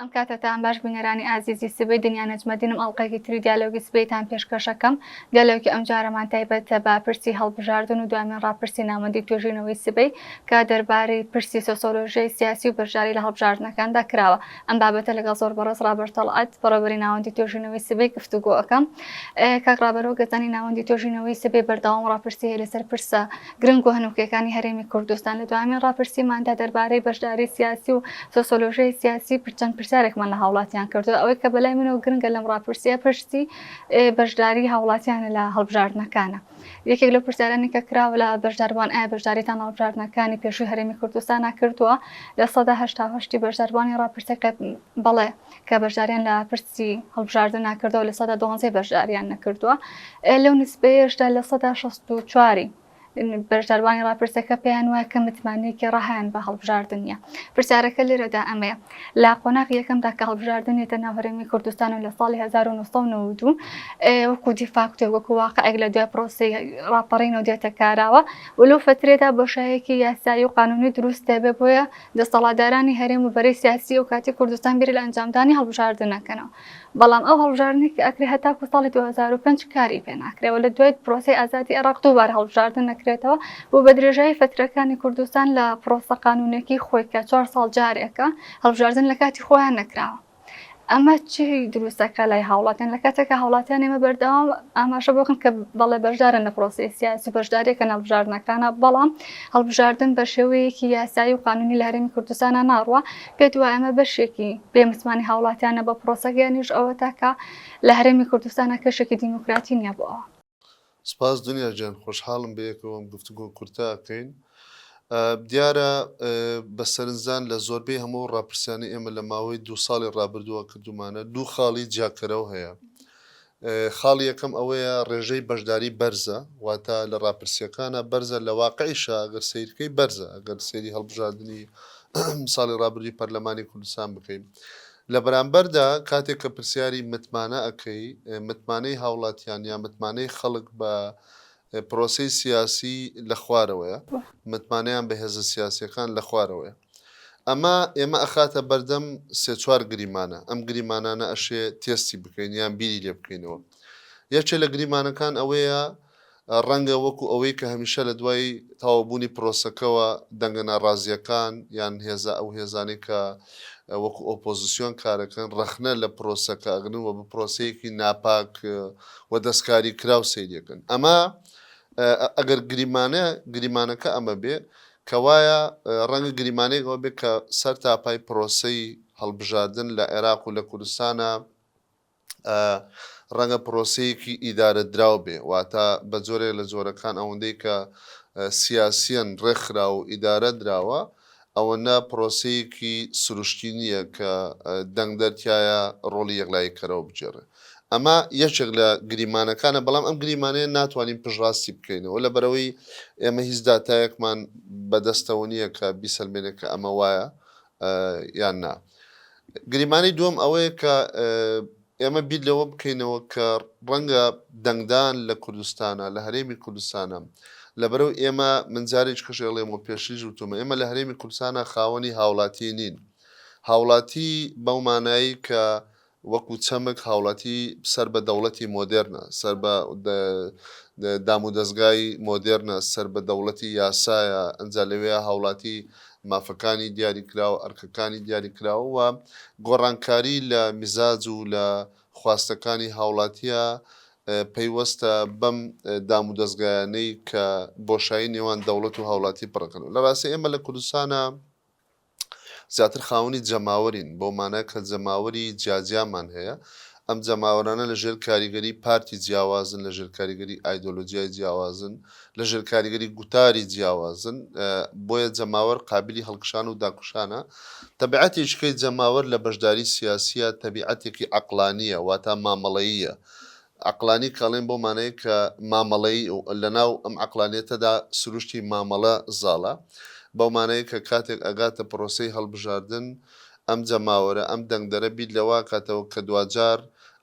ئەم کاتەتان باش بینەرانی ئازیزی سبەی دنیا نەجمەدینم ئەڵقەیەکی تری دیالۆگی سبەیتان پێشکەشەکەم دیالۆگی ئەمجارەمان تایبەتە بە پرسی هەڵبژاردن و دوایمین ڕاپرسی ناوەندی توێژینەوەی سبەی کە دەربارەی پرسی سۆسۆلۆژیای سیاسی و بەشداری لە هەڵبژاردنەکاندا کراوە ئەم بابەتە لەگەڵ زۆر بەڕێز ڕابەر تەڵعەت بەڕێوبەری ناوەندی توێژینەوەی سبەی گفتوگۆ ئەکەم کاک ڕابەر وەک دەزانی ناوەندی توێژینەوەی سبەی بەردەوام ڕاپرسی هەیە لەسەر پرسە گرنگ و هەنووکەکانی هەرێمی کوردستان، لە دوایین ڕاپرسیماندا دەربارەی بەشداری سیاسی و سۆسۆلۆژیای سیاسی پر چەند پرسیارێکمان لە هاوڵاتیان کردووە، ئەوەی کە بەلای منەوە گرنگە لەم ڕاپرسیە پرسی بەشداری هاوڵاتیانە لە هەڵبژاردنەکانا. یەکێک لەو پرسیارانەی کە کراوە لە بەشداربووان ئایا بەشداریتان لە هەڵبژاردنەکانی پێشووی هەرێمی کوردستانا کردووە؟ لە سەدا هەشتا و هەشت ی بەشداربووانی ڕاپرسیەکە بەڵێ کە بەشداریان لە پرسی هەڵبژاردن ناکردەوە لە سەدا دوانزەی بەشداریان نەکردووە لەو نسبەیەشدا لە سەدا 64 بەشداروانی ڕاپرسەکە پێیان وایە کە متمانەیەکی ڕەهیان بە هەڵبژاردن نیە پرسیارەکە لێرەدا ئەمەیە لە قۆناغ یەکەمدا کە هەڵبژاردنێتە ناو هەرێمی کوردستان و لە ساڵی 1992 وەکو دیفاکتۆ وەکو واقعێک لە دوای پرۆسی ڕاپەڕین و دێتە کاراوە و لەو فترێدا بۆشایەکی یاسایی و قانونی دروست دەبێ بۆیە دەستەڵاتدارانی هەرێم و بەرەی سیاسی ئەو کاتی کوردستان بیر لە ئەنجامدانی هەڵبژاردن ئەکەنەوە بەڵام ئەو هەڵبژاردنەی کە ئەکرێ هەتاکو ساڵی دوو هەزار و پێنج کاری پێ ناکرێ و لە دوای پرۆسەی ئازادی عێراق دووبارە هەڵبژاردن ئەکرێتەوە بۆ بە درێژایی فەترەکانی کوردستان لە پرۆسە قانوونیەکەی خۆی کە چوار ساڵ جارێکە هەڵبژاردن لە کاتی خۆیان نەکراوە. ئەمە چی دروستەکە لای هاوڵاتیان لە کاتێکە هاوڵاتیان ئێمە بەردەوام ئاماژە بۆکن کە بەڵێ بەشدارن لە پرۆسی سیاسی بەشدارێکە نەڵبژاردنەکانە بەڵام هەڵبژاردن بە شێوەیەکی یاسایی و قانونی لە هەرێمی کوردستانە ناڕوە پێ دوای ئەمە بەشێکی بێ متمانی هاوڵاتیانە بە پرۆسەگەیانیش ئەوە تاکە لە هەرێمی کوردستانە کەشێکی دیموکراتی نییە بۆ ئەوە سپاس دنیا گیان خۆشحاڵم بەیەکەوە ئەم گفتوگۆ کورتە ئەکەین. دیارە بە سەرنجدان لە زۆربەی هەموو ئەو ڕاپرسیانەی ئێمە لە ماوەی دوو ساڵی ڕابردووە کردومانە دوو خاڵی جیاکەرەوە هەیە. خاڵی یەکەم ئەوەیە ڕێژەی بەشداری بەرزە واتە لە ڕاپرسیەکانە بەرزە لە واقعیشە گەر سیرکەی بەرزە ئەگەر سێری هەڵبژاردنی ساڵی ڕابردووی پەرلەمانی کوردستان بکەین. لە بەرامبەردا کاتێک کە پرسیاری متمانە ئەکەی، متمانەی هاوڵاتیان یا متمانەی خەڵک بە پرۆسەی سیاسی لە خوارەوەیە، متمانەیان بە هێزە سیاسیەکان لە خوارەوەیە. ئەمە ئێمە ئەخاتە بەردەم سێ چوار گریمانە، ئەم گریمانانە ئەشێ تێستی بکەین یان بیری لێ بکەینەوە. یەکێ لە گریمانەکان ئەوەیە ڕەنگە وەکو ئەوەی کە هەمیشە لە دوای تەواوبوونی پرۆسەکەوە دەنگە ناڕازییەکان یان هێزە ئەو هێزانەی کە وەکو ئۆپۆزسیۆن کارەکەن ڕەخنە لە پرۆسەکە ئەگرن و بە پرۆسەیەکی ناپاک و دەستکاریکراو سەیریەکەن ئەمە ئەگەر گریمانە گریمانەکە ئەمە بێ کەوایە ڕەنگە گریمانەی ئەوە بێ کە سەر تاپای پرۆسەی هەڵبژاردن لە عێراق و لە کوردستانە ڕەنگە پرۆسەیەکی ئیدارەدراو بێ، واتە بە جۆرێک لە جۆرەکان ئەوەندەی کە سیاسیەن ڕێکخراوە و ئیدارە دراوە، ئەوەنە پرۆسەیەکی سروشتی نییە کە دەنگدەر تیایا ڕۆڵی یەکلاییکەرەوە بگێڕێ. ئەمە یەکێک لە گریمانەکانە، بەڵام ئەم گریمانەیە ناتوانین پشتڕاستی بکەینەوە، لەبەرئەوەی ئێمە هیچ داتایەکمان بەدەستەوە نییە کە بیسەلمێنێ کە ئەمە وایە، یان نا؟ گریمانەی دووەم ئەوەیە کە ئێمە بیر لەوە بکەینەوە کە ڕەنگە دەنگدان لە کوردستانە، لە هەرێمی کوردستانە، لەبەرو ئێمە من جارێکیکش ئەڵێم و پێشتریش وتومە ئێمە لە هەرێمی کوردستانە خاوەنی هاوڵاتیی نین. هاوڵاتیی بەو مانایەی کە وەکو چەمک هاوڵاتی سەر بە دەوڵەتی مۆدێرنە، سەر بە دام و دەزگای مۆدێرنە، سەر بە دەوڵەتی یاسایە، ئەنجا لەوێیا هاوڵاتی مافەکانی دیاری کراو، ئەرکەکانی دیاری کراو و گۆڕانکاری لە میزاج و لە خواستەکانی هاوڵاتیە پەیوەستە بەم دام و دەزگایانەی کە بۆشایی نێوان دەوڵەت و هاوڵاتی پڕەکەن و لە ڕاستی ئێمە لە کوردستانا زیاتر خاوەنی جەماوەرین، بەو مانای کە جەماوەری جیاجیامان هەیە، ئەم جەماوەرانە لە ژێر کاریگەری پارتی جیاوازن، لە ژێر کاریگەری ئایدۆلۆجیای جیاوازن، لە ژێر کاریگەری گوتاری جیاوازن، بۆیە جەماوەر قابیلی هەڵکشان و داکوشانە، تەبعەتێکیکەی جەماوەر لە بەشداری سیاسییە تەبیعەتێکی عەقڵانییە، واتا مامەڵەییە، عەقڵانی کاڵێن بەو مانای کە مامەڵەیی و لەناو ئەم عەقڵانیەتەدا سروشتی مامەڵە زاڵە، بەو مانای کە کاتێک ئەگاتە پرۆسەی هەڵبژاردن ئەم جەماوەرە، ئەم دەنگدەرە بیر لەوە ئەکاتەوە کە دواجار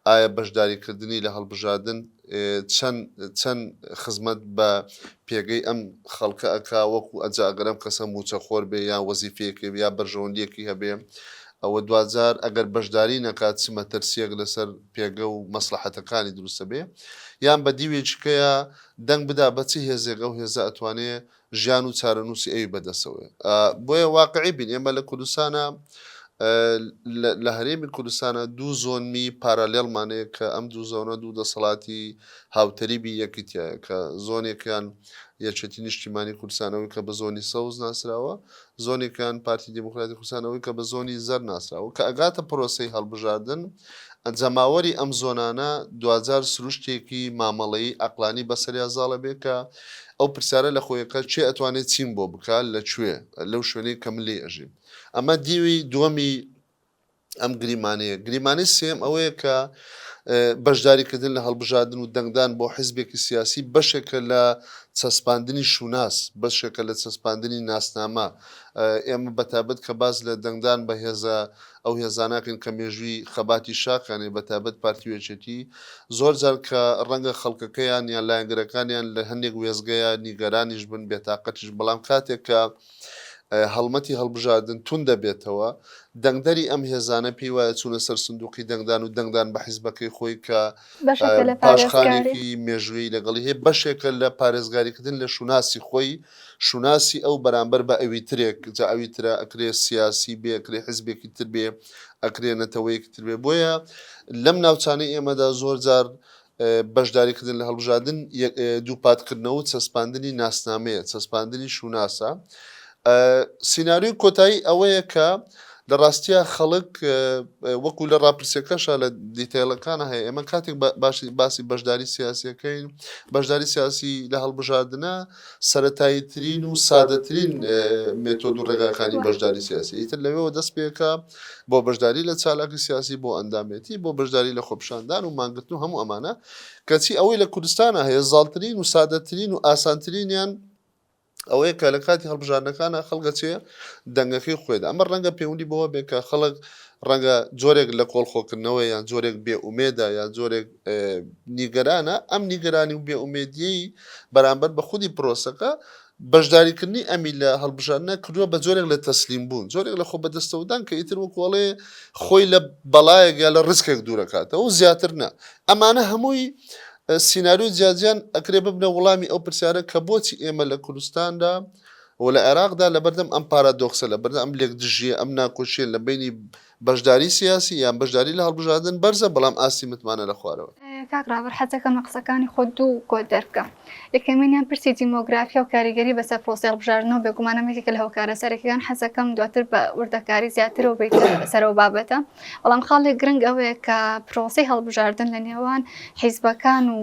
ئایا بەشداری کردنی لە هەڵبژاردن چەن چەن خزمەت بە پێگەی ئەم خەڵکە ئەکا وەکو ئەجا ئەگەر ئەم کەسە موچە خۆر بێ یان وەزیفەیەکی هەبێ یا بەرژەوەندیەکی هەبێ ئەوە دواجار ئەگەر بەشداری نەکات چ مەترسیەک لەسەر پێگە و مەسلەحەتەکانی دروستە بێ یان بە دیوێکی کەیا دەنگ بدا بە چ هێزێک ئەو هێزە ئەتوانێ ژیان و چارەنووسی ئەوی بەدەسەوەێ بۆیە واقعی بین ئێمە لە کوردستانە لە هەرێمی کوردستانە دوو زۆنمی پارالێڵمانەیە کە ئەم دوو زۆنە دوو دەسەڵاتی هاوتەریبی یەکیتە کە زۆنێکیان یەکێتی نیشتیمانی کوردستانەوەی کە بە زۆنی سەوز ناسراوە زۆنێکیان پارتی دیموکراتی کوردستان ئەوەی کە بە زۆنی زەرد ناسراوە کە ئەگاتە پرۆسەی هەڵبژاردن جەماوەری ئەم زۆنانە دواجار سروشتێکی مامەڵەیی ئەقلانی بەسەریا زاڵە بێ کە ئەو پرسیارە لە خۆیە کە کێ ئەتوانێ چیم بۆ بکا لە کوێ لەو شوێنەی کە من لێی ئەژیم ئەمە دیوی دووەمی ئەم گریمانەیە گریمانەی سێم ئەوەیە کە بەشداریکردن لە هەڵبژاردن و دەنگدان بۆ حزبێکی سیاسی بەشێکە لە چەسپاندنی شوناس بەشێکە لە چەسپاندنی ناسنامە ئێمە بەتابەت کە باز لە دەنگدان بە هێزە ئەو هێزاناکەن کە مێژووی خەباتی شاکانێ بەتابەت پارتیوێچێتی زۆر جار کە ڕەنگە خەڵکەکەیان یان لایەنگرەکانیان لە هەندێک وێزگەیە نیگەرانیش بن بێتاقەتیش بەڵام کاتێک کە هەڵمەتی هەڵبژاردن توند دەبێتەوە، دەنگدەری ئەم هێزانە پێی وایە چوونە سەر سندووقی دەنگدان و دەنگدان بە حیزبەکەی خۆی کە پاشخانێکی مێژوویی لەگەڵی هەیە، بەشێکە لە پارێزگاریکردن لە شوناسی خۆی، شوناسی ئەو بەرامبەر بە ئەویترێک، جا ئەویترە ئەکرێ سیاسی بێ، ئەکرێ حیزبێکی تر بێ، ئەکرێ نەتەوەیەکی تر بێ. بۆیە لەم ناوچانەی ئێمەدا زۆرجار بەشداریکردن لە هەڵبژاردن دووپاتکردنەوەو چەسپاندنی ناسنامەیە، چەسپاندنی شوناسە. سیناریۆی کۆتایی ئەوەیە کە لە ڕاستیا خەڵک وەکو لە ڕاپرسیەکەشە لە دیتەیڵەکانە هەیە ئێمە کاتێک باشی باسی بەشداری سیاسیەکەین بەشداری سیاسی لە هەڵبژاردنە سەتایی ترین و سادەترین مێتۆد و ڕێگاکانی بەشداری سیاسی ئیتر لەوێەوە دەست پێکە بۆ بەشداری لە چالاکی سیاسی، بۆ ئەندامێتی، بۆ بەشداری لە خۆپیشاندان و مانگرتن و هەموو ئەمانە، کەچی ئەوەی لە کوردستانا هەیە زاڵترین و سادەترین و ئاسانترینیان ئەوەیە کە لە کاتی هەڵبژاردنەکانا خەڵک ئەچێ دەنگەکەی خۆیدا، ئەمە ڕەنگە پەیوەندی بەوە بێ کە خەڵک ڕەنگە جۆرێک لە کۆڵخۆکردنەوەیە یان جۆرێک بێ ئومێدە یان جۆرێک نیگەرانە، ئەم نیگەرانی و بێ ئومێدیەی بەرامبەر بە خودی پرۆسەکە بەشداریکردنی ئەمی لە هەڵبژاردنا کردووە بە جۆرێک لە تەسلیم بوون جۆرێک لە خۆ بەدەستەوەدان کە ئیتر وەکو ئەڵێ خۆی لە بەڵایەک یا لە ڕسکێک دوورەکاتەوە و زیاتر نا ئەمانە هەمووی ئە، سیناریۆی جیاجیان ئەکرێ ببنە وڵامی ئەو پرسیارە کە بۆچی ئێمە لە کوردستاندا و لە عێراقدا لەبەردەم ئەم پارادۆکسە لەبەردەم ئەم لێکدژیە ئەم ناکۆکیە لە بەینی بەشداری سیاسی یان بەشداری لە هەڵبژاردن بەرزە بەڵام ئاستی متمانە لە خوارەوە. کاک ڕابەر حەزدەکەم لە قسەکانی خۆت دوو کۆت دەربکەم. یەکەمینیان پرسی دیمۆگرافیا و کاریگەری بەسەر پرۆسەی هەڵبژاردنەوە بێگومان ئەمە یەکێکە لە هۆکارە سەرەکیەکان حەزدەکەم دواتر بە وردەکاری زیاترەوە بێیتە سەر ئەو بابەتە بەڵام خاڵێک گرنگ ئەوەیە کە پرۆسەی هەڵبژاردن لە نێوان حیزبەکان و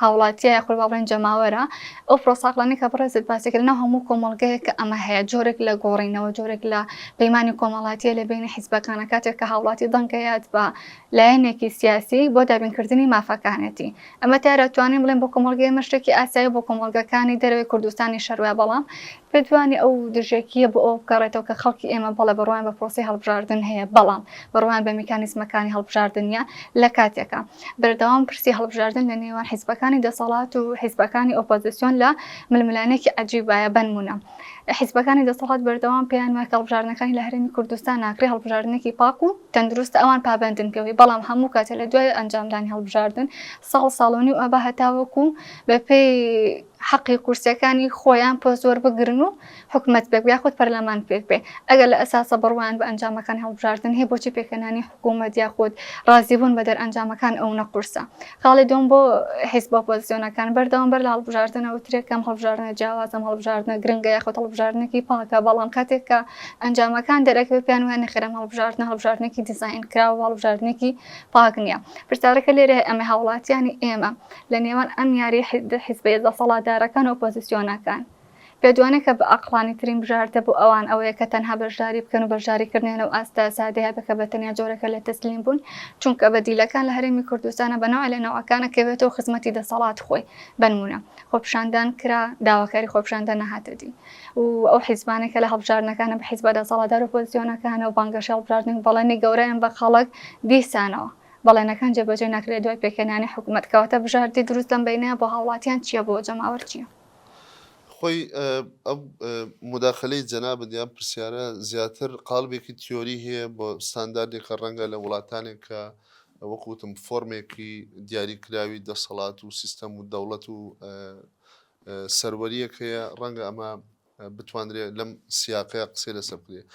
هاوڵاتیە یاخود با بڵێن جەماوەرە، ئەو پرۆسە عەقڵانیە کە بەڕێزت باسی کرد لەناو هەموو کۆمەڵگەیەکە ئەمە هەیە، جۆرێک لە گۆڕینەوە، جۆرێک لە پەیمانی کۆمەڵاتیە لە بەینی حیزبەکانە، کاتێک کە هاوڵاتی دەنگ ئەیات بە لایەنێکی سیاسی بۆ دابین کردنی مافەکانێتی، ئەمە دیارە ئەتوانین بڵێن بۆ کۆمەڵگەی ئێمە شتێکی ئاساییە بۆ کۆمەڵگەکانی دەرەوەی کوردستانیش هەر وایە، بەڵام پێتوانیە ئەو دژێکیە بۆ ئەوە بگەڕێتەوە کە خەڵکی ئێمە بەڵێ بڕوایان بە پرۆسەی هەڵبژاردن هەیە، بەڵام بڕوایان بە میکانیزمەکانی هەڵبژاردن نیە لە کاتێکا. بەردەوام پرسی هەڵبژاردن لە نێوان حیزبەکانی دەسەڵات و حیزبەکانی ئۆپۆزیسیۆن لە ململانێکی عەجیبایە بەنمونە حیزبەکانی دەسەڵات بەردەوام پێیان وایە کە هەڵبژاردنەکانی لە هەرێمی کوردستان ناکرێ هەڵبژاردنێکی پاک و تەندروستە ئەوان پابەندن پێوەی بەڵام هەموو کاتێ لە دوای ئەنجامدانی هەڵبژاردن ساڵ ساڵۆنی و ئەبا هەتاوەکو بەپێی حەقی کورسیەکانی خۆیان پۆست وەربگرن و حکومەت بێت یاخود پەرلەمان پێک بێت ئەگەر لە ئەساسا بڕوایان بە ئەنجامەکانی هەڵبژاردن هەیە بۆچی پێکهێنانی حکومەت یاخود ڕازیبوون بە دەرئەنجامەکان ئەونە قورسە؟ خاڵی دووەم بۆ حیزبە ئۆپۆزسیۆنەکان بەردەوام بەر لە هەڵبژاردن ئەوترێ کام هەڵبژاردنە جیاوازە ئەم هەڵبژاردنە گرنگە یاخود هەڵبژاردنێکی پاکە بەڵام کاتێک کە ئەنجامەکان دەرەکەوێت پێیان وایە نەخێر ئەم هەڵبژاردنە هەڵبژاردنێکی دیزاینکراوە هەڵبژاردنێکی پاک نییە پرسیارەکە لێرە هەیە ئەمە هاوڵاتیانی ئێمە لە نێوان ئەم یاری حیزبە دەسەڵاتدارەکان و ئۆپۆزسیۆنەکان بێدوانە کە بە ئەقڵانی ترین بژاردە بۆ ئەوان ئەوەیە کە تەنها بەشداری بکەن و بەشداری کردنیان لەو ئاستە سادەیە بکە بە تەنیا جۆرێکە لە تەسلیم بوون چونکە بە دیلەکان لە هەرێمی کوردستانە بە نەوعێ لە نەوعەکانە کە بێتەوە خزمەتی دەسەڵات خۆی بەنمونە خۆپیشاندان کرا داواکاری خۆپیشاندان نەهاتە دی و ئەو حیزبانە کە لە هەڵبژاردنەکانە بە حیزبە دەسەڵاتدار و پۆزیۆنەکانە و بانگەشە هەڵبژاردن و بەڵێنی گەورەیان بە خەڵک دیسانەوە بەڵێنەکان جێبەجێ نەکرێت دوای پێکهێنانی حکومەت کەواتە بژاردی دروست لەم بەینەیە بۆ هاوڵاتیان چیە بۆ جەماوەر چیە؟ خۆی ئەم مداخلەی جەنابت یان پرسیارە زیاتر قالبێکی تیۆری هەیە بۆ ستانداردێکە ڕەنگە لە وڵاتانێک کە وەکوتم فۆرمێکی دیاریکراوی دەسەڵات و سیستەم و دەوڵەت و سەروەریەکەیە ڕەنگە ئەمە بتوانرێت لەم سیاقەیە قسەی لەسەر بکرێت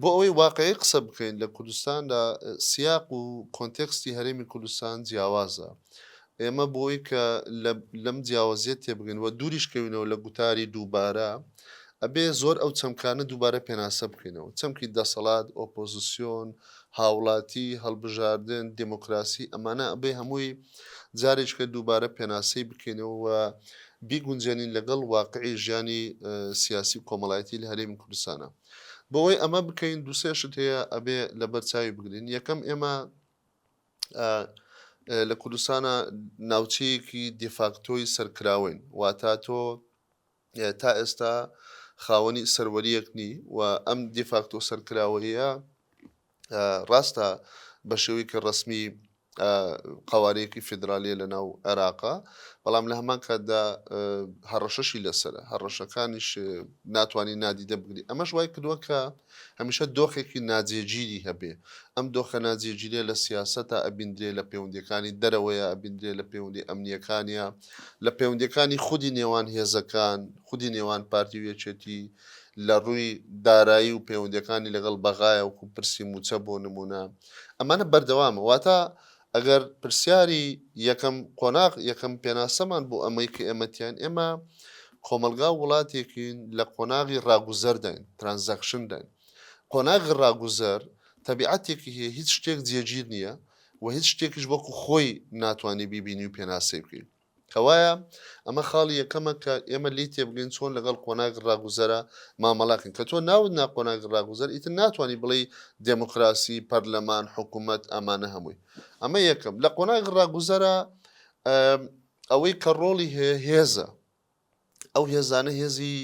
بۆ ئەوەی واقعی قسە بکەین لە کوردستاندا سیاق و کۆنتێکستی هەرێمی کوردستان جیاوازە. ئێمە بۆ ئەوەی کە لەم جیاوازییە تێبگەین و دووریش کەوینەوە لە گوتاری دووبارە، ئەبێ زۆر ئەو چەمکانە دووبارە پێناسە بکەینەوە. چەمکی دەسەڵات، ئۆپۆزسیۆن، هاوڵاتی، هەڵبژاردن، دێمۆکراسی، ئەمانە ئەبێ هەمووی جارێکیتر دووبارە پێناسەی بکەینەوە و بیگونجێنین لەگەڵ واقعی ژیانی سیاسی و کۆمەڵایەتی لە هەرێمی کوردستانا. بۆوەی ئەمە بکەین دوو سێ شت هەیە ئەبێ لەبەر چاوی بگرین یەکەم ئێمە لە کوردستانە ناوچەیەکی دیفاکتۆی سەرکراوەین واتا تۆ تا ئێستا خاوەنی سەروەریەک نی و ئەم دیفاکتۆ سەرکراوەیە ڕاستە بەشێوەیەکی ڕەسمی قەوارەیەکی فیدراالیە لە ناو عێراقا بەڵام لە هەمان کاتدا هەڕەشەشی لەسرە هەڕەشەکانیش ناتوانانی نادیدە بگری ئەمەش وای کردووە کە هەمیشە دۆخێکی ناجێگیری هەبێ ئەم دۆخە ناجێگیرێ لە سیاست تا ئەبیندرێ لە پەیوەندەکانی دەرەوەیە ئەبیندرێ لە پەیوەندی ئەمنیەکانە لە پەیوەندەکانی خودی نێوان هێزەکان خودی نێوان پارتی و یەکێتی لە ڕووی دارایی و پەیوەندییەکانی لەگەڵ بەغایە وەکوو پرسی مووچە بۆ نموونە ئەمانە بەردەوامە واتا ئەگەر پرسیاری یەکەم قۆناغ یەکەم پێناسەمان بۆ ئەمەی کە ئێمەتیان ئێمە کۆمەلگا و وڵاتێکین لە قۆناغی ڕاگوزەرداین ترانزەکشنداین قۆناغی ڕاگوزەر تەبیعاتێکی هەیە هیچ شتێک جێگیر نییە و هیچ شتێکیش وەکو خۆی ناتوانانی بیبینی و پێناسەی بکەین کەوایە ئەمە خاڵی یەکەمە کە ئێمە لێی تێبگەین چۆن لەگەڵ قۆناغی ڕاگوزەرە مامەڵاکەین کە تۆ ناوت نا قۆناغی ڕاگوزەر ئیتر ناتوانانی بڵێی دێموکراسی پەرلەمان حکوومەت ئەمانە هەمووی ئەمە یەکەم لە قۆناغی ڕاگوزەرە ئەوەی کە ڕۆڵی هەیە هێزە ئەو هێزانە هێزی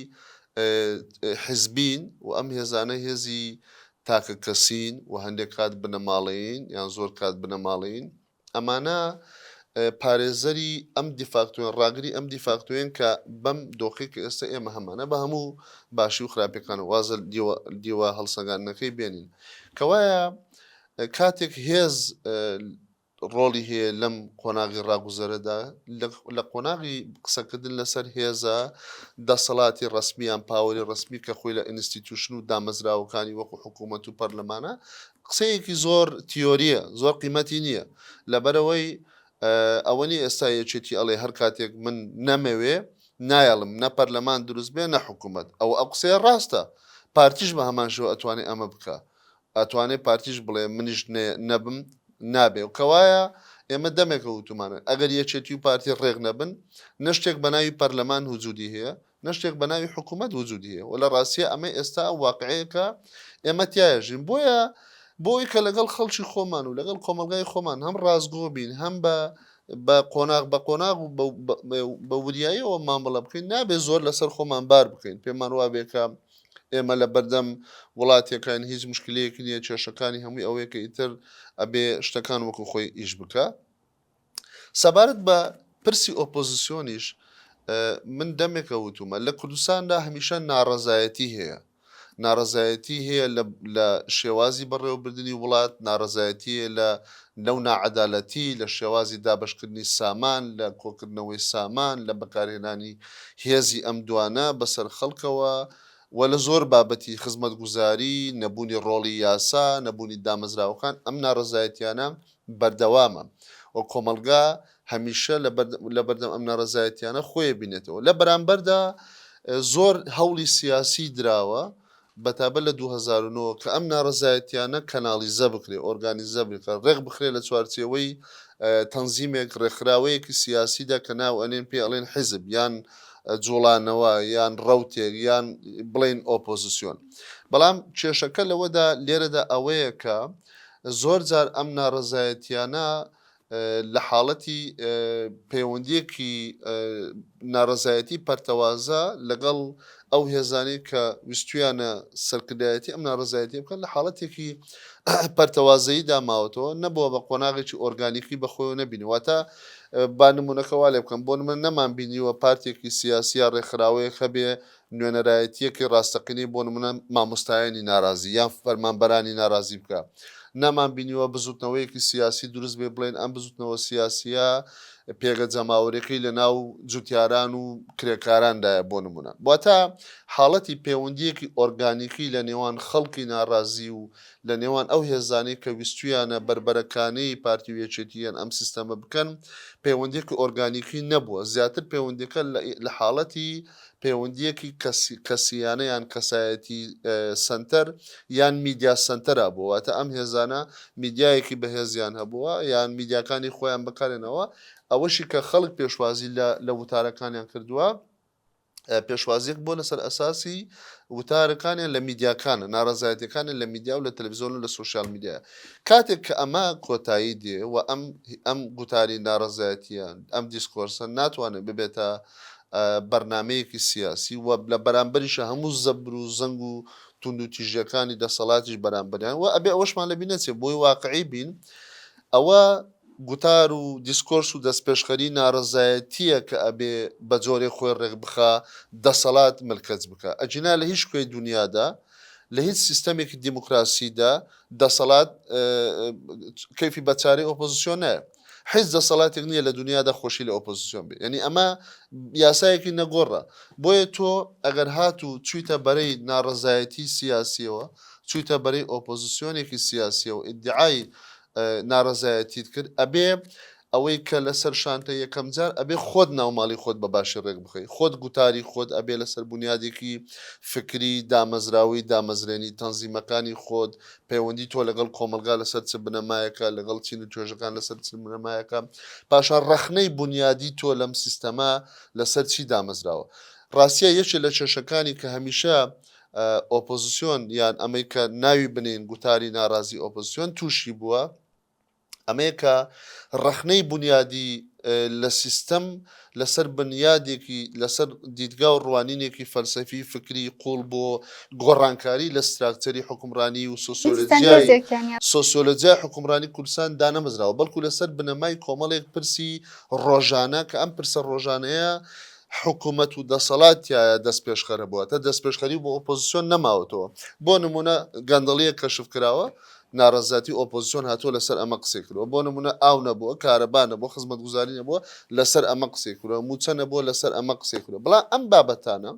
حزبین و ئەم هێزانە هێزی تاکە کەسین و هەندێک کات بنەماڵەین یان زۆر کات بنەماڵین ئەمانە پارێزەری ئەم دیفاکتوێن ڕاگری ئەم دیفاکتوێن کە بەم دۆخی کە ئێستا ئێمە هەمانە بە هەموو باشی و خراپەکان وازە دیوە هەڵسەنگاندنەکەی بێنین کەوایە کاتێک هێز ڕۆڵی هەیە لەم قۆناغی ڕاگوزەرەدا، لە قۆناغی قسەکردن لەسەر هێزە دەسەڵاتی ڕەسمی یان پاوەری ڕەسمی کە خۆی لە ئینستیتوشن و دامەزراوەکانی وەکو حکوومەت و پەرلەمانە، قسەیەکی زۆر تیۆرییە، زۆر قیمەتی نییە، لەبەرئەوەی ئەوە نییە ئێستا یەکێتی ئەڵێ هەر کاتێک من نەمەوێ نایەڵم نە پەرلەمان دروست بێ نە حکوومەت، ئەوە ئەو قسەیە ڕاستە، پارتیش بە هەمان شێوە ئەتوانێ ئەمە بکا، ئەتوانێ پارتیش بڵێ منیش نەبم نابێ و کەوایە ئێمە دەمێکە وتومانە ئەگەر یەکێتی و پارتی ڕێک نەبن نە شتێک بە ناوی پەرلەمان وجودی هەیە نە شتێک بە ناوی حکوومەت وجودی هەیە و لە ڕاستیە ئەمە ئێستا ئەو واقعەیە کە ئێمە تایەژین بۆیە بۆی کە لەگەڵ خەڵکی خۆمان و لەگەڵ کۆمەلگای خۆمان هەم ڕاستگۆ بین هەم بە بە قۆناغ بە قۆناغ و بە وریاییەوە مامەڵە بکەین نابێ زۆر لەسەر خۆمان بار بکەین پێمان وابێکە ئێمە لەبەردەم وڵاتێکاین هیچ مشکلەیەکی نییە کێشەکانی هەمووی ئەوەیە کە ئیتر ئەبێ شتەکان وەکو خۆی ئیش بکە سەبارەت بە پرسی ئۆپۆزیسیۆنیش من دەمێکە وتومە لە کوردستاندا هەمیشە ناڕەزایەتی هەیە ناڕەزایەتی هەیە لە شێوازی بەڕێوەبردننی وڵات ناڕەزایەتی لە لەو ناعەدالەتی لە شێوازی دابەشکردنی سامان، لە کۆکردنەوەی سامان، لە بەکارهێنانی هێزی ئەم دوانە بەسەر خەڵکەوە و لە زۆر بابەتی خزمەتگوزاری، نەبوونی ڕۆڵی یاسا، نەبوونی دامەزراوەکان، ئەم ناڕەزایەتیانە بەردەوامە و کۆمەڵگا هەمیشە لەبەردەم ئەم ناڕەزایەتیانە خۆی ئەبینێتەوە. لە بەرامبەردا زۆر هەوڵی سیاسی دراوە بەتابەت لە دوو هەزار و نۆ کە ئەم نارەزایەتیانە کەناڵیزە بکرێ، ئۆرگانیزە بکرێ، ڕێک بخرێ لە چوارچێوەی تەنزیمێک، ڕێکخراوەیەکی سیاسیدا کە ناو ئەنێن پێی ئەڵێن حیزب یان جوڵانەوە یان ڕەوتێک یان بڵێین ئۆپۆزسیۆن. بەڵام کێشەکە لەوەدا لێرەدا ئەوەیە کە زۆر جار ئەم نارەزایەتیانە لە حاڵەتی پەیوەندییەکی نارەزایەتی پەرتەوازە لەگەڵ ئەو هێزانەی کە ویستویانە سەرکردایەتی ئەم نارەزایەتی بکەن لە حاڵەتێکی پەرتەوازەیی داماوەتەوە نەبووە بە قۆناغێکی ئۆرگانیکی بەخۆی نەبینیواتە با نمونونەکەوا لێ بکەم بۆ من نەمان بینیوە پارتێکی سیاسیە ڕێکخراوەیە هەبێ نوێنەرایەتییەکی ڕاستەقینەی بۆ نموونە مامۆستایانی نارازی یان فەرمانبەرانی نارازی بکا. نەمان بینیوە بزووتنەوەیەکی سیاسی دروست بێ بڵێن ئەم بزووتنەوە سیاسییە پێگە جەماوەریەکەی لە ناو جووتیاران و کرێکاران دایە بۆ نموونە. واتە حاڵەتی پێوەندییەکی ئۆرگانیکی لە نێوان خەڵکی نارازی و لە نێوان ئەو هێزانەی کە ویستوویانە بەربەرەکانێی پارتی و یەکێتی یان ئەم سیستەمە بکەن پێوەندییەکی ئۆرگانیکی نەبووە زیاتر پێوەندییەکە لە حاڵەتی پەیوەندییەکی کەسی کەسییانە یان کەسایەتی سەنتەر یان میدیا سەنتەرا بووە، واتە ئەم هێزانە میدیایەکی بەهێزیان هەبووە یان میدیاکانی خۆیان بەکارهێناوە، ئەوەشی کە خەڵک پێشوازی لە لە وتارەکانیان کردووە، پێشوازییەک بووە لەسەر ئەساسی وتارەکانیان لە میدیاکانە، ناڕەزایەتییەکانیان لە میدیا و لە تەلەڤیزیۆن و لە سۆشیال میدیایە. کاتێک کە ئەمە کۆتایی دێ و ئەم ئەم گوتاری ناڕەزایەتییە، ئەم دیسکۆرسە ناتوانێت ببێتە بەرنامەیەکی سیاسی و لە بەرامبەریشا هەموو زەبر و زەنگ و توندوتیژیەکانی دەسەڵاتیش بەرامبەریان و ئەبێ ئەوەشمان لەبیر نەچێ بۆی واقعی بین ئەوە گوتار و دیسکۆرس و دەستپێشخەری نارەزایەتیە کە ئەبێ بە جۆرێ خۆی ڕێکبخا دەسەڵات ملکەچ بکە ئەگینا لە هیچ کوێی دنیادا لە هیچ سیستەمێکی دیموکراسیدا دەسەڵات کەفی بەچارەی ئۆپۆزیسیۆنە حیز دەسەڵاتێک نیە لە دونیادا خۆشی لە ئۆپۆزسیۆن بێ یەنی ئەمە یاسایەکی نەگۆڕە بۆیە تۆ ئەگەر هاتوو چویتە بەرەی ناڕەزایەتی سیاسیەوە چویتە بەرەی ئۆپۆزسیۆنێکی سیاسیەوە ئیدعای ناڕەزایەتیت کرد ئەبێ ئەوەی کە لەسەر شانتە یەکەم جار ئەبێ خۆت ناوماڵی خۆت بە باشی ڕێک بخەی خۆت گوتاری خۆت ئەبێ لەسەر بنیادێکی فکری دامەزراوەی دامەزرێنی تەنزیمەکانی خۆت پەیوەندی تۆ لەگەڵ کۆمەڵگا لەسەر چ بنەمایەکە لەگەڵ چین و توێژەکان لەسەر چ بنەمایەکە پاشان ڕەخنەی بنیادی تۆ لەم سیستەما لەسەر چی دامەزراوە ڕاستە یەکێ لە کێشەکانی کە هەمیشە ئۆپۆزیسیۆن یان ئەمەی کە ناوی بنین گوتاری ناڕازی ئۆپۆزیسیۆن تووشی بووە ئەمەیە کە ڕەخنەی بونیادی لە سیستەم لەسەر بنیادێکی لەسەر دیدگا و ڕوانینێکی فەلسەفی فکری قوڵ بۆ گۆڕانکاری لە ستراکچەری حکومڕانی و سۆسیۆلۆژیای سۆسیۆلۆژیای حکومڕانی کوردستان دانەمەزراوە بەڵکو لەسەر بنەمای کۆمەڵێک پرسی ڕۆژانە کە ئەم پرسە ڕۆژانەیە حکوومەت و دەسەڵاتایە دەست پێشخەرە بووە تا دەست پێشخەری بۆ ئۆپۆزیسیۆن نەماوەتەوە بۆ نمونە گەندەڵیە کەشف کراوە ناڕەزایەتی ئۆپۆزسیۆن هاتووە لەسەر ئەمە قسەی کرووە بۆ نموونە ئاو نەبووە کارەبا نەبووە خزمەتگوزاری نەبووە لەسەر ئەمە قسەی کرووە مووچە نەبووە لەسەر ئەمە قسەی کرووە بڵام ئەم بابەتانە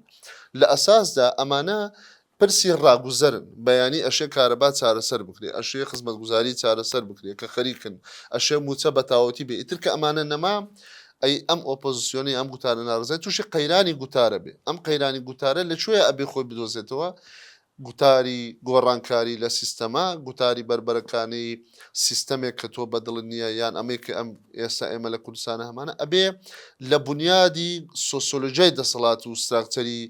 لە ئەساسدا ئەمانە پرسی ڕاگوزەرن بەیانی ئەشێ کارەبا چارەسەر بکرێ ئەشێ خزمەتگوزاری چارەسەر بکرێ کە خەریکن ئەشێ مووچە بە تاوەتی بێ ئیتر کە ئەمانە نەما ئەی ئەم ئۆپۆزیسیۆنی ئەم گوتارە ناڕزای تووشی قەیرانی گوتارە بێ ئەم قەیرانی گوتارە لە کوێ ئەبێ خۆی بدۆزێتەوە گوتاری گۆڕانکاری لە سیستەمە، گوتاری بەربەرەکانێی سیستەمێک کە تۆ بەدڵت نییە یان ئەمەی کە ئەم ئێستا ئێمە لە کوردستانە هەمانە، ئەبێ لە بونیادی سۆسیۆلۆژیای دەسەڵات و ستراکچەری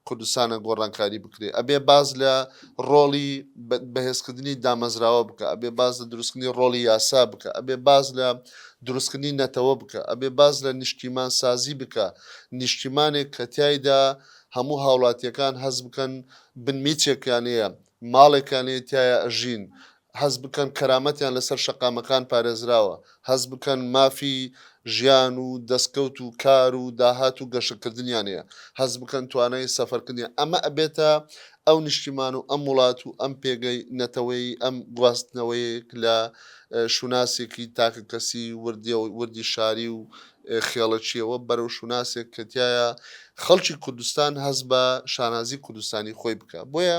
کوردستانە گۆڕانکاری بکرێ، ئەبێ باس لە ڕۆڵی بەهێزکردنی دامەزراوە بکا، ئەبێ باس لە دروستکردنی ڕۆڵی یاسا بکا، ئەبێ باس لە دروستکردنی نەتەوە بکا، ئەبێ باس لە نیشتیمانسازی بکا، نیشتیمانێک کە تیایدا هەموو هاوڵاتیەکان هەست بکەن بن میچێکیان هەیە، ماڵێکیان هەیە تیایا ئەژین، هەست بکەن کەرامەتیان لەسەر شەقامەکان پارێزراوە، هەست بکەن مافی ژیان و دەستکەوت و کار و داهات و گەشەکردنیان هەیە، هەست بکەن توانای سەفەرکردنیان ئەمە ئەبێتە ئەو نیشتیمان و ئەم وڵات و ئەم پێگەی نەتەوەیی ئەم گواستنەوەیەک لە شوناسێکی تاکەکەسی وردی شاری و خێڵەکییەوە بەرەو شوناسێک کە تیایا خەڵکی کوردستان هەست بە شانازی کوردستانی خۆی بکە بۆیە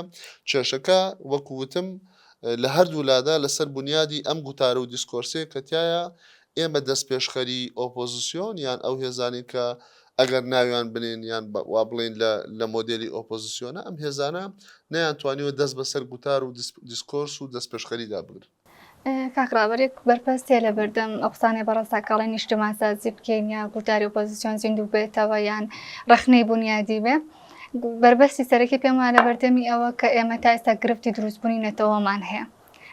کێشەکە وەکو وتم لە هەردوو لادا لەسەر بنیادی ئەم گوتارە و دیسکۆرسێک کە تیایا ئێمە دەست پێشخەری ئۆپۆزیسیۆن یان ئەو هێزانین کە ئەگەر ناویان بنێن یان وا بڵێن لە لە مۆدێلی ئۆپۆزیسیۆنە ئەم هێزانە نەیان توانیوە دەست بەسەر گوتار و دیسکۆرس و دەست پێشخەریدا بگرن کاک ڕابەر یەک بەرپەست هەیە لەبەردەم ئەو قسانەی بەڕەسا کە ئەڵێن نیشتمانسازی بکەین یا گوتاری ئۆپۆزیسیۆن زیندوو بێتەوە یان ڕەخنەی بونیادی بێ بەربەستی سەرەکی پێم وایە لەبەردەمی ئەوە کە ئێمە تا ئێستا گرفتی دروستبوونی نەتەوەمان هەیە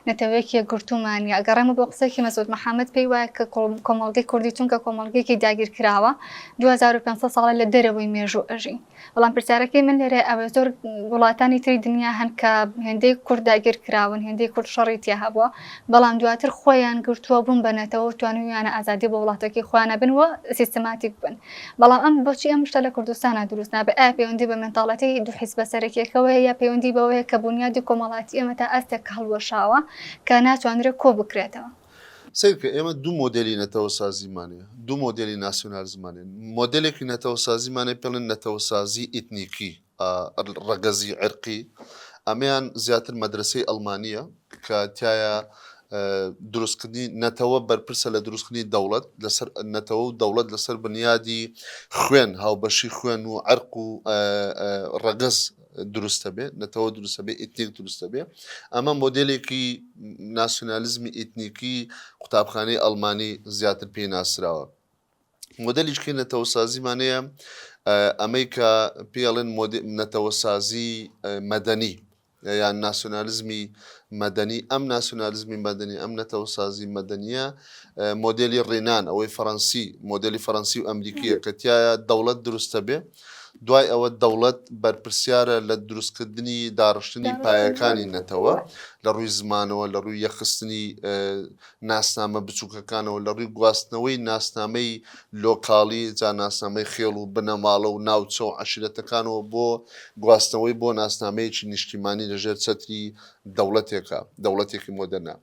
نەتەوەیەکی یەکگرتوومان نیە گەڕێمە بۆ قسەیەکی مەسعود محەممەد پێی وایە کە کۆمەڵگەی کوردی چونکە کۆمەڵگەیەکی داگیرکراوە 2500 ساڵە لە دەرەوەی مێژوو ئەژین بەڵام پرسیارەکەی من لێرە ئەوەیە زۆر وڵاتانی تری دنیا هەن کە هێندەی کورد داگیر کراون هێندەی کورد شەڕی تیا هەبووە بەڵام دواتر خۆیان گرتووە بوون بە نەتەوە توانویانە ئازادی بۆ وڵاتەکەی خۆیانە بن و سیستماتیک بن بەڵام ئەم بۆچی ئەم شتە لە کوردستانە دروست نابێ ئایا پەیوەندی بە منداڵەتی دوو حیز بە سەرەکیەکەوەیە یا پەیوەندی بەوەیە کە بنیادی کۆمەڵاتی ئێمە تا ئەستێک هەڵوەشاوە کە ناتوانرێت کۆ بکرێتەوە سەیر بکە ئێمە دوو مۆدلی نەتەوەسازیمان هەیە دوو مۆدلی ناسیۆنالیزمان هەیە مۆدلێکی نەتەوەسازیمان هەیە پێڵێن نەتەوەسازی ئیتنیکی ئا ڕ- ڕەگەزی عێرقی ئەمەیان زیاتر مەدرسەی ئەڵمانیە کە تایە دروستکردنی نەتەوە بەرپرسە لە دروستکردنی دەوڵەت لەسەر نەتەوە و دەوڵەت لەسەر بنیادی خوێن هاوبەشی خوێن و عەرق و ئا، ئا، ڕەگەز دروست بێ نەتەوە دروست بێ ئیتنیک دروست بێ ئەمە مۆدلێکی ناسیۆنالیزمی ئیتنیکی قوتابخانەی ئەلمانی زیاتر پێی ناسراوە مۆدلیشکی نەتەوەسازیمانەیە ئەمەی کە پێڵێن نەتەوەسازی مەدەنی یان ناسیۆنالیزمی مەدەنی ئەم ناسیۆنالیزمی مەدەنی ئەم نەتەوەسازی مەدەنیە مۆدلی ڕێنان ئەوەی فەڕەنسی مۆدلی فەڕەنسی و ئەمریکیە کە تایە دەوڵەت دروستە بێ دوای ئەوە دەوڵەت بەرپرسیارە لە دروستکردنی داڕشتنی پایەکانی نەتەوە، لە ڕووی زمانەوە، لە ڕووی یەکخستنی ناسنامە بچووکەکانەوە، لە ڕووی گواستنەوەی ناسنامەی لۆکاڵی، جا ناسنامەی خێڵ و بنەماڵە و ناوچە و عەشیرەتەکانەوە بۆ گواستنەوەی بۆ ناسنامەیەکی نیشتیمانی لە ژێر چەتری دەوڵەتێکا، دەوڵەتێکی مۆدێرنا.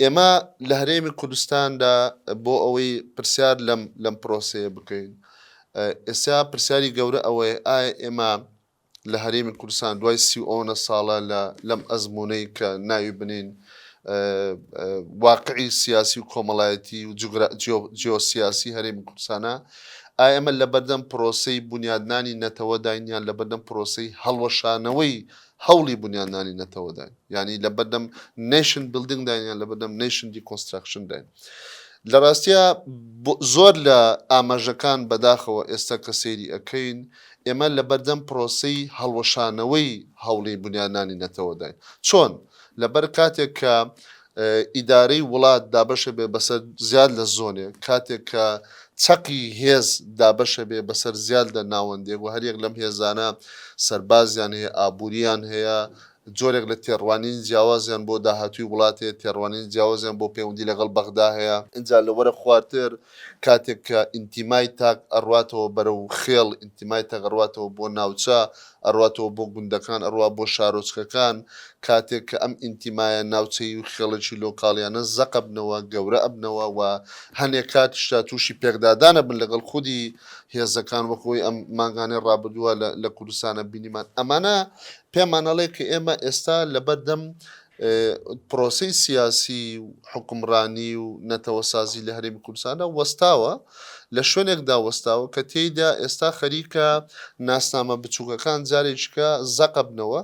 ئێمە لە هەرێمی کوردستاندا بۆ ئەوەی پرسیار لەم لەم پرۆسەیە بکەین، ئێستا پرسیاری گەورە ئەوەیە ئایا ئێمە لە هەرێمی کوردستان دوای سی و ئۆنە ساڵە لە لەم ئەزموونەی کە ناوی بنین واقعی سیاسی و کۆمەڵایەتی و جیۆسیاسی هەرێمی کوردستانە ئایا ئێمە لەبەردەم پرۆسەی بنیادنانی نەتەوەداین یان لەبەردەم پرۆسەی هەڵوەشانەوەی هەوڵی بنیادنانی نەتەوە داین یعنی لە بەردەم نەیشن بلدنگ داینیان لە بەردەم نەیشن دیکۆنستراکشن داین لە ڕاستە زۆر لە ئاماژەکان بەداخەوە ئێستا کە سەیری ئەەکەین ئێمە لە بەردەم پرۆسی هەڵوەشانەوەی هەوڵی بنیادنانی نەتەوە داین چۆن لەبەر کاتێک کە ئیدارەی وڵات دابەشەبێ بەسەر زیاد لە زۆنێک، کاتێک کە چەقی هێز دابەشەبێ بەسەر زیاد لە ناوەندێک و هەریەک لەم هێزانە سەربازیان هەیە، ئابوورییان هەیە، جۆرێک لە تێڕوانینی جیاوازیان بۆ داهاتووی وڵات هەیە، تێڕوانینی جیاوازیان بۆ پەیوەندی لەگەڵ بەغدا هەیە. ئینجا لە وەرە خوارتر کاتێک کە ئینتیمای تاک ئەڕواتەوە بەرەو خێڵ، ئینتیمای تاک ئەڕواتەوە بۆ ناوچە، ئەڕواتەوە بۆ گوندەکان، ئەڕوا بۆ شارۆچکەکان، کاتێک کە ئەم ئینتیمایە ناوچەیی و خێڵەکی لۆکاڵیانە زەق ئەبنەوە، گەورە ئەبنەوە و هەنێ کاتیش تا تووشی پێکدادان ئەبن لەگەڵ خودی هێزەکان وەک ئەوەی ئەم مانگانەی ڕابردووە لە کوردستانە بینیمان. ئەمانە پێمان ئەڵێ کە ئێمە ئێستا لەبەردەم پرۆسەی سیاسی و حوکمڕانی و نەتەوەسازی لە هەرێمی کوردستاندا وەستاوە، لە شوێنێکدا وەستاوە کە تێیدا ئێستا خەریکە ناسنامە بچووکەکان جارێکیکە زەق ئەبنەوە،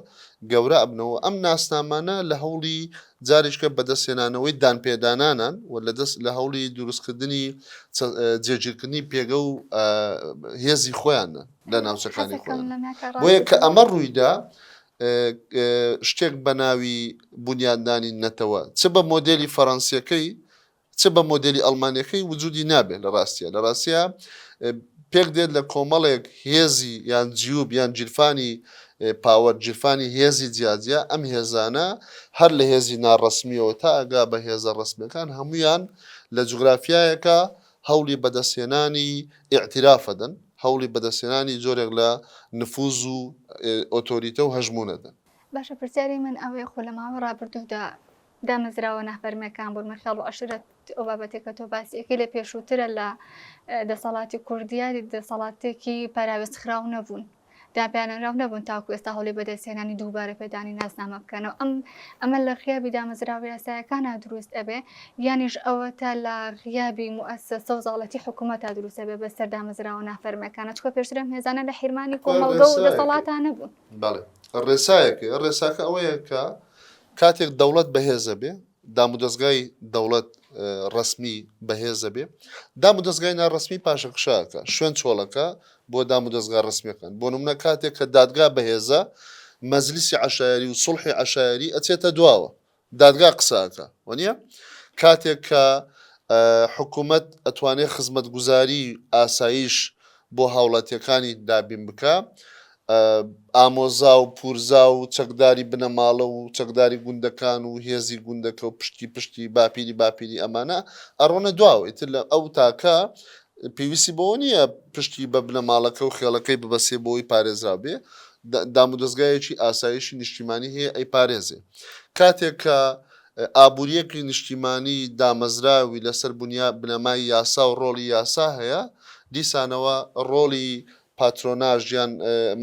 گەورە ئەبنەوە، ئەم ناسنامانە لە هەوڵی جارێکیکە بەدەستهێنانەوەی دانپێدانانان و لە هەوڵی دروستکردنی جێگیرکردنی پێگە و هێزی خۆیانن لە ناوچەکانی خۆیان، بۆیە کە ئەمە ڕوویدا شتێک بە ناوی بونیادنانی نەتەوە چ بە مۆدێلی فەرەنسیەکەی چ بە مۆدێلی ئەڵمانیەکەی وجودی نابێت لە ڕاستیە لە ڕاستە پێک دێت لە کۆمەڵێک هێزی یان جیوب یان جیرفانی پاوەر جیرفانی هێزی جیاجیا ئەم هێزانە هەر لە هێزی ناڕسمیەوە تا ئەگا بە هێزە ڕسمەکان هەمویان لە جوگرافیایەکە هەوڵی بەدەستهێنانی ئیعتیراف ئەدەن، هەوڵی بەدەستهێنانی جۆرێک لە نفوز و ئۆتۆریتە و هەژموون ئەدەن. باشە پرسیاری من ئەوەیە خۆ لە ماوەی ڕابردوودا دامەزراوە نافەرمیەکان بوون مەخێڵ و عەشرەت ئەو بابەتێک کە تۆ باسی ئەکەی لە پێشووترە لە دەسەڵاتی کوردیا دەسەڵاتێکی پەراوێزخراو نەبوون. داپیاننراو نەبوون تاوەکو ئێستا هەوڵی بەدەستهێنانی دووبارە پێدانی ناسنامە بکەنەوە ئەم ئەمە لە غیابی دامەزراوە یاسایەکانا دروست ئەبێ یانیش ئەوەتا لە غیابی موئەسەسە و زاڵێتی حکومەتا دروست ئەبێ بەسەر دامەزراوە نافەرمیەکانا چونکە پێشتر ئەم هێزانە لە حیرمانی کۆمەڵگە و دەسەڵاتا نەبوون. بەڵێ ڕێسایەکە ڕێساکە ئەوەیە کە کاتێک دەوڵەت بەهێزەبێ، دامودەزگای دەوڵەت ڕەسمی بەهێز ئەبێ دامودەزگای ناڕەسمی پاشەکشە ئەکا، شوێن چۆڵ ئەکا بۆ دامودەزگا ڕەسمیەکان، بۆ نمونە کاتێک کە دادگا بەهێزە مەجلیسی عەشایەری و سوڵحی عەشایەری ئەچێتە دواوە دادگا قسە ئەکا وەنیە کاتێک کە حکومەت ئەتوانێ خزمەتگوزاری ئاسایش بۆ هاوڵاتیەکانی دابین بکا ئامۆزا و پورزا و چەکداری بنەماڵە و چەکداری گوندەکان و هێزی گوندەکە و پشتکی پشتی باپیری باپیری ئەمانە ئەڕۆنە دواوە ئیتر لە ئەو تاکە پێویستی بەوە نییە پشتی بە بنەماڵەکە و خێڵەکەی ببەسێ بۆی پارێزراو بێ دام و دەستگایەکی ئاسایشی نیشتیمانی هەیە ئەی پارێزێ کاتێک کە ئابووریەکی نیشتیمانی دامەزراوی لەسەر بنیا بنەمای یاسا و ڕۆڵی یاسا هەیە دیسانەوە ڕۆڵی پاترۆناژ یان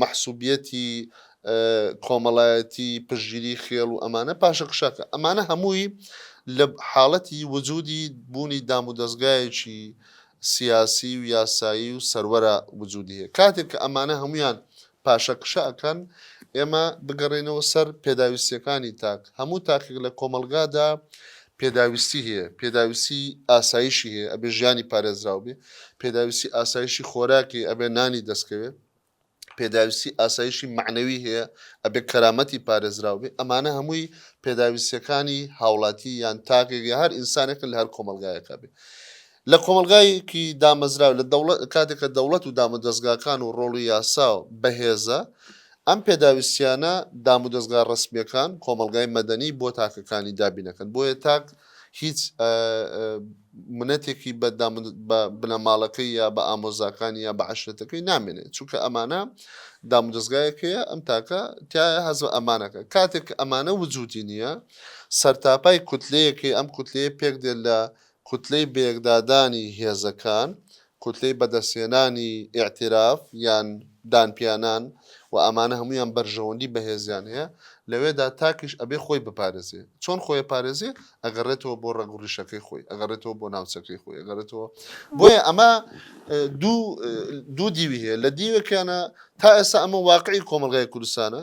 مەحسوبیەتی کۆمەڵایەتی، پشتگیری خێڵ و ئەمانە پاشە کشاکە، ئەمانە هەمووی لە حاڵەتی وجودی بوونی دام و دەزگایەکی سیاسی و یاسایی و سەروەرا وجودی هەیە. کاتێک کە ئەمانە هەموویان پاشە کشە ئەکەن، ئێمە بگەڕێینەوە سەر پێداویستیەکانی تاک، هەموو تاکێک لە کۆمەڵگادا پێداویستی هەیە، پێداویستی ئاسایشی هەیە، ئەبێ ژیانی پارێزراو بێ، پێداویستی ئاسایشی خۆراک هەیە، ئەبێ نانی دەستکەوێ، پێداویستی ئاسایشی مەعنەوی هەیە، ئەبێ کەرامەتی پارێزراو بێ، ئەمانە هەمووی پێداویستییەکانی هاوڵاتی یان تاکێک یا هەر ئینسانێکن لە هەر کۆمەڵگایەکا بێ. لە کۆمەڵگایەکی دامەزراو لە دەوڵەت کاتێک کە دەوڵەت و دامودەزگاکان و ڕۆڵی یاسا بەهێزە ئەم پێداویستیانە دامودەزگا ڕەسمیەکان کۆمەڵگای مەدەنی بۆ تاکەکانی دابینەکەن بۆیە تاک هیچ منەتێکی بە بە بنەماڵەکەی یا بە ئامۆزاکانی یا بە عشرەتەکەی نامێنێت چونکە ئەمانە دامودەزگایەکەیە ئەم تاکە تایە هەز بە ئەمانەکە کاتێک ئەمانە وجودی نییە سەرتاپای کوتلەیەکی ئەم کوتلەیە پێک دێت لە کوتلەی بەیەکدادانی هێزەکان، کوتلەی بەدەستهێنانی ئیعتیراف یان دانپیانان و ئەمانە هەموویان بەرژەوەندی بەهێزیان هەیە، لەوێدا تاکیش ئەبێ خۆی بپارێزێ. چۆن خۆی ئەپارێزێ؟ ئەگەڕێتەوە بۆ ڕەگ و ڕیشەکەی خۆی، ئەگەڕێتەوە بۆ ناوچەکەی خۆی، ئەگەڕێتەوە. بۆیە ئەمە دوو دوو دیوی هەیە، لە دیوێکیانا تا ئێستا ئەمە واقعی کۆمەڵگای کوردستانە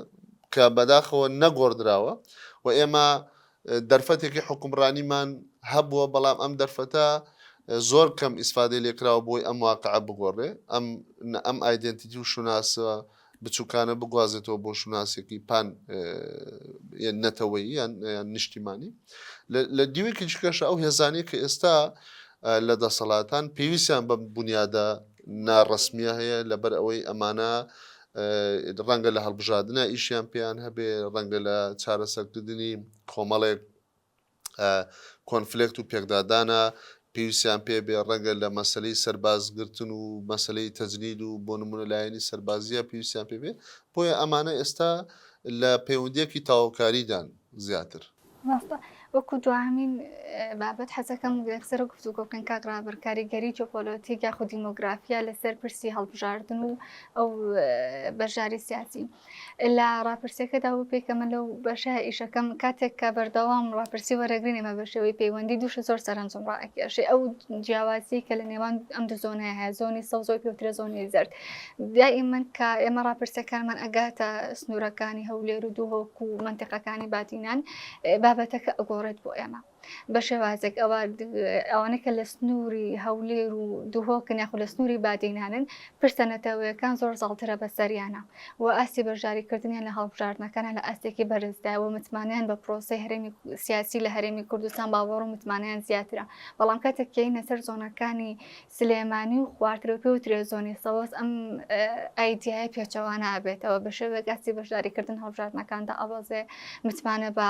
کە بەداخەوە نەگۆڕدراوە و ئێمە دەرفەتێکی حوکمڕانیمان هەبووە، بەڵام ئەم دەرفەتە زۆر کەم ئیسفادەی لێ کراوە بۆی ئەم واقعە بگۆڕێ، ئەم ئەم ئایدێنتیتی و شوناسە بچووکانە بگوازێتەوە بۆ شوناسێکی پان نەتەوەیی یان نیشتیمانی. لە دیوێکی دیکەشە ئەو هێزانەی کە ئێستا لە دەسەڵاتان پێویستیان بەم بونیادە ناڕەسمیە هەیە لەبەر ئەوەی ئەمانە ڕەنگە لە هەڵبژادنا ئیشیان پێیان هەبێ ڕەنگە لە چارەسەرکردنی کۆمەڵێک کۆنفلکت و پێکدادانە پێویستیان پێ بێ ڕەنگە لە مەسلەی سەربازگرتن و مەسلەی تەجنید و بۆ نمونە لایەنی سەربازیە پێویستیان پێ بێ بۆیە ئەمانە ئێستا لە پەیوەندیەکی تاوکاریدان زیاتر مامۆستا وەکو دواهەمین بابەت حەزەکەم لەسەر گفتوگۆ بکەن کاک ڕابر کاریگەری جۆپۆلۆتیک یاخود دیمۆگرافیا لەسەر پرسی هەڵبژاردن و ئەو بەشداری سیاسی لە ڕاپرسیەکەدا و پێکەمە لەو بەشە ئیشەکەم کاتێک کە بەردەوام ڕاپرسی وەرەگرین ئێمە بە شێوەی پەیوەندی دووشە زۆر سەرنجم ڕاکێشێ ئەو جیاوازی کە لە نێوان ئەم دوو زۆنەیە هەیە زۆنی سەوزۆی پێوترە زۆنی زرد دائیمەن کە ئێمە ڕاپرسەکانمان ئەگاتە سنوورەکانی هەولێر و دووهۆک و منتیقەکانی بادینان بابەتەکە ئەگۆڕێت بۆ ئێمە بە شێوازێک ئەوە ئەوانە کە لە سنووری هەولێر و دووهۆکن یاخود لە سنووری بادینانن پرسە نەتەوەیەکان زۆر زاڵترە بە سەریانە و ئاستی بەشداریکردنیان لە هەڵبژاردنەکانە لە ئاستێکی بەرزداوە متمانیان بە پرۆسی هەرێمی سیاسی لە هەرێمی کوردستان باوەڕ و متمانیان زیاترە بەڵام کاتێک کەینە سەر زۆنەکانی سلێمانی و خوارترەوپێ و ترێزۆنی سەوز ئەم ئایدیایە پێچەوانە ئەبێتەوە بە شێوەیەک ئاستی بەشداریکردن هەڵبژاردنەکان دائەبەزێ متمانە بە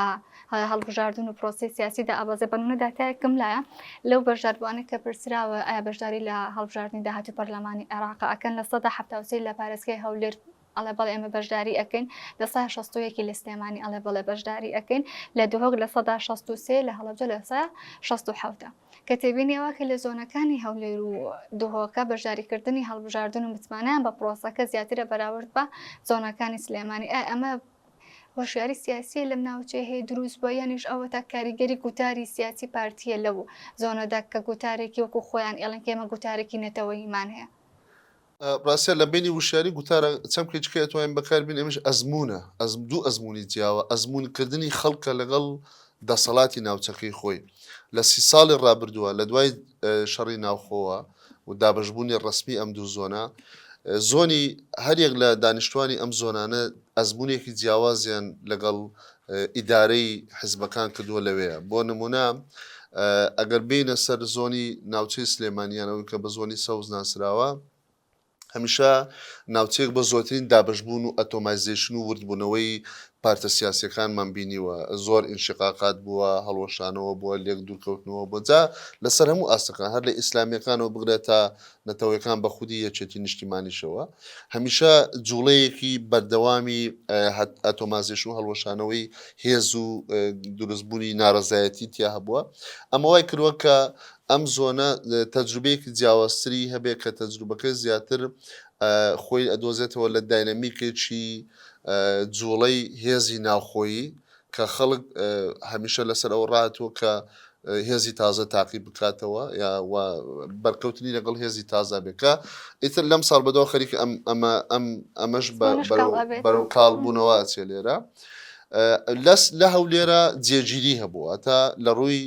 هەڵبژاردن و پرۆسی سیاسی دائەبەزێ بەنمونە داتایەکم لایە لەو بەشداربووانە کە پرسراوە ئایا بەشداری لە هەڵبژاردنی داهاتوو پەرلەمانی عێراق ئەکەن لە سەدا حەفتا و سێ لە پارێزگای هەولێر ئەڵێ بەڵێ ئێمە بەشداری ئەکەین لە سا شەستویەکی لە سلێمانی ئەڵێ بەڵێ بەشداری ئەکەین لە دهۆک لە سەدا شەست و سێ لە هەڵەبجە لە سا شەست و حەوتە کە تێبینیەوە کە لە زۆنەکانی هەولێر و دهۆکە بەشداریکردنی هەڵبژاردن و متمانەیان بە پرۆسەکە زیاترە بەراورد بە زۆنەکانی سلێمانی ئای ئەمە هۆشیاری سیاسیە لەم ناوچەیە هەیە دروست بووە یانیش ئەوە تا کاریگەری گوتاری سیاسی پارتیە لەو زۆنەدا کە گوتارێکی وەکو خۆیان ئێڵن کێمە گوتارێکی نەتەوەیمان هەیە ڕاستە لە بەینی وشیاری گوتارە چەمکێکی کە ئەتوانین بەکاربین ئەمیش ئەزموونە ئەزم دوو ئەزموونی جیاوە ئەزموونکردنی خەڵکە لەگەڵ دەسەڵاتی ناوچەکەی خۆی لە سی ساڵی ڕابردووە لە دوای شەڕی ناوخۆوە و دابەشبوونی ڕسمی ئەم دوو زۆنە زۆنی هەریەک لە دانیشتوانی ئەم زۆنانە ئەزمونێکی جیاوازیان لەگەڵ ئیدارەی حزبەکان کردووە لەوێیە بۆ نمونە ئەگەر بینە سەر زۆنی ناوچەی سلێمانیان ئەوی کە بە زۆنی سەوز ناسراوە هەمیشە ناوچەیەک بە زۆترین دابشبوون و ئەتۆمایزیشن و وردبوونەوەی پارتە سیاسەکانمان بینیوە زۆر ئینشقاقات بووە هەڵوەشانەوە بووە لێک دوورکەوتنەوە بۆجا لەسەر هەموو ئاستەکان هەر لە ئیسلامیەکانەوە بگرێتە نەتەوەیەکان بە خودی یەکێتی نیشتیمانیشەوە هەمیشە جوڵەیەکی بەردەوامی ئەتۆمازێشن و هەڵوەشانەوەی هێز و دروستبوونی نارەزایەتی تیا هەبووە ئەمە وای کردوە کە ئەم زۆنە تەجروبەیەکی جیاوازتری هەبێت کە تەجروبەکە زیاتر خۆی ئەدۆزێتەوە لە داینەمیکێکی جوڵەی هێزی ناوخۆیی کە خەڵک هەمیشە لەسەر ئەوە ڕاتوە کە هێزی تازە تاقی بکاتەوە یا بەرکەوتنی لەگەڵ هێزی تازا بێت کە ئیتر لەم ساڵ بەدەوە خەریک ئەم ئەمە ئەم ئەمەش بەرەو کاڵ بوونەوە چێ لێرە لەس لە هەولێرە جێگیری هەبووە تا لە ڕووی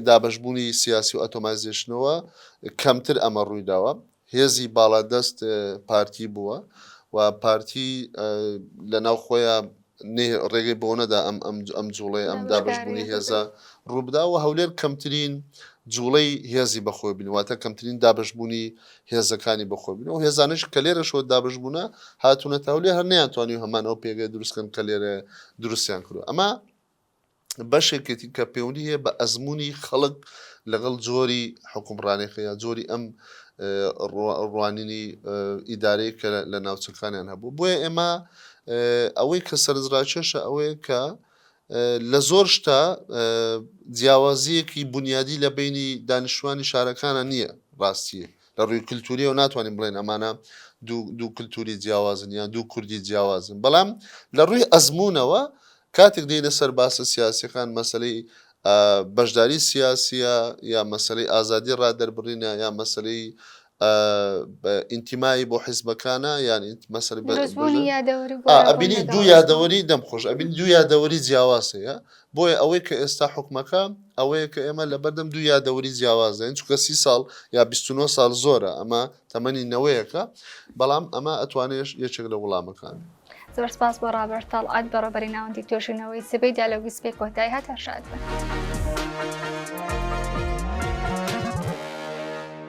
دابشبوونی سیاسی و ئەتۆمایزیشنەوە کەمتر ئەمە ڕوویداوە هێزی باڵادەست پارتی بووە و پارتی لە ناو خۆیان ڕێگەی بەوە نەدا ئەم ئەم جوڵەی ئەم دابشبوونی هێزە ڕووبدا و هەولێر کەمترین جوڵەی هێزی بەخۆی بن واتە کەمترین دابشبوونی هێزەکانی بەخۆ بن و هێزانش کە لێرەشەوە دابشبوونە هاتوونەتە هەولێر هەر نیان توانی و هەمان ئەو پێگەی دروستکەن کە لێرە دروستیان کردو ئەمە بەشێکێتی کە پێونی هەیە بە ئەزمونی خەڵک لەگەڵ جۆری حکومڕانێکە یا جۆری ئەم ڕوانینی ئیدارەیە کە لە ناوچەکانیان هەبوو بۆیە ئێمە ئەوەی کە سەرنجڕاکێشە ئەوەیە کە لە زۆر شتا جیاوازیەکی بنیادی لە بینی دانیشتوانی شارەکانە نییە ڕاستیە لە ڕووی کللتوریەوە ناتوانین بڵێن ئەمانە دوو کللتوری جیاوازن یان دوو کوردی جیاوازن بەڵام لە ڕووی ئەزمونونەوە کاتێک دێینە سەر باسە سیاسیەکان مەسەلەی بەشداری سیاسیە یا مەسەلەی ئازادی ڕادەربڕینە یا مەسەلەی ئینتیمایی بۆ حیزبەکانە یان مەسەر ئەبینی دوو یادەوەری دەم خۆش ئەبین دوو یادەوەری جیاواز هەیە بۆیە ئەوەی کە ئێستا حکومەکە ئەوەیە کە ئێمە لە بەردەم دوو یادەوەری جیاوازدەین چکە سی ساڵ یا 29 سال زۆرە ئەمە تەمەنی نەوەیەکە بەڵام ئەمە ئەتوانێش یەکێک لە وڵامەکان زۆر سپاس بۆ ڕابەر تەڵعەت بەڕێوبەری ناوەندی توێژینەوەی سبەی دیالۆگی سبەی کۆتایی هات هەر شاد بن.